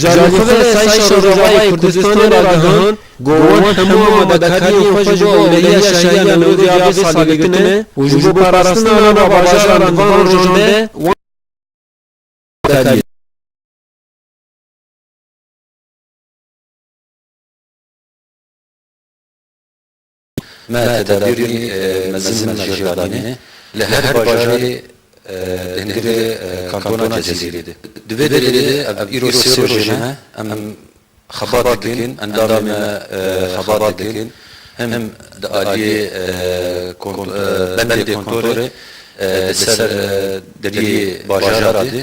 Jalîxwê Sayîşa Rojavayê Kurdistanê ragihand ku wan hemû amadekariyên xwe ji bo ewlehiya şahiya li Nûrê ya vê salê girtine û ji bo parastina nava bajaran di van rojan de wan amadekariyê dike. Me tedabîrî mezin mejîr danîne li her bajarê di hingirê kantona Cezîrê de. Di vê derê de ev îro sê rojê ne em xebat dikin, endamên me xebat dikin hem di aliyê bendê kontorê di ser deriyê bajara de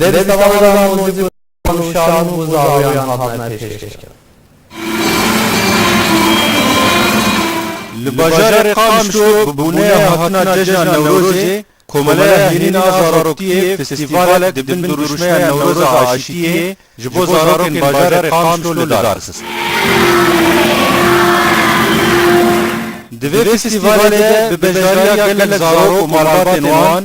Dê bi sewada mûzîk û wan û şarûm û zarûyan hatine pêşkêşkirin. Li bajarê Qamişlo bi boneya hatina cejna Newrozê Komeleya Hêrîn a Zaroktiyê festîvalek di bin dirûşmeya Newroza Aşîtiyê ji bo zarokên bajarê Qamişlo li dar xist. Di vê festîvalê de bi beşdariya gelek zarok û malbatên wan,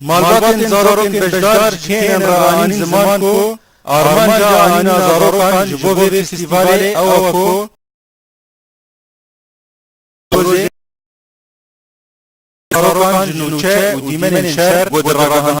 Malbatên zarokên beşdar ji kênên re anîn ziman ku armanca anîna zarokan ji bo vê festîvalê ew e ku zarokan ji nûçe û dîmenên şer ku di ragihandina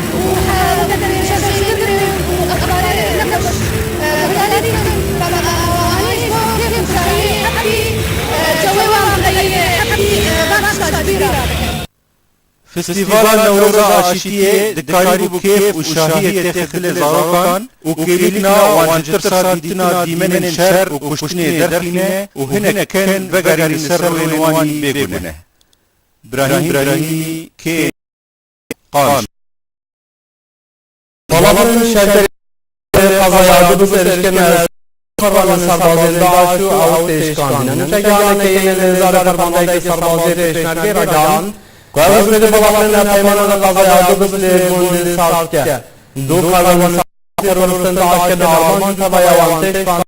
Festîvala Newroza Aşîtiyê di karî bû kêf û şahiyê têxe dilê zarokan û kêlîkna wan ji tirsa dîtina dîmenên şer û kuştinê derxîne û hinek ken vegerîne ser rûyên wan ên bêguneh. Brahîm Brahîmî kê? qanc. Palavra şerkerê qezaya du bise erişkirina hesabê xerranên serbazên DAIŞ û ewr tê şikandin. Nûçegihaneke yên Lêzarê Fermandeyeke Serbazî Pêşmergê ragihand ku ewr ji vê balafirina peymanan re qezaya du bis li gundên sar dike. Du xerranên serbazî teroristên DAIŞ kirine armanc û tevaya wan tê şikandin.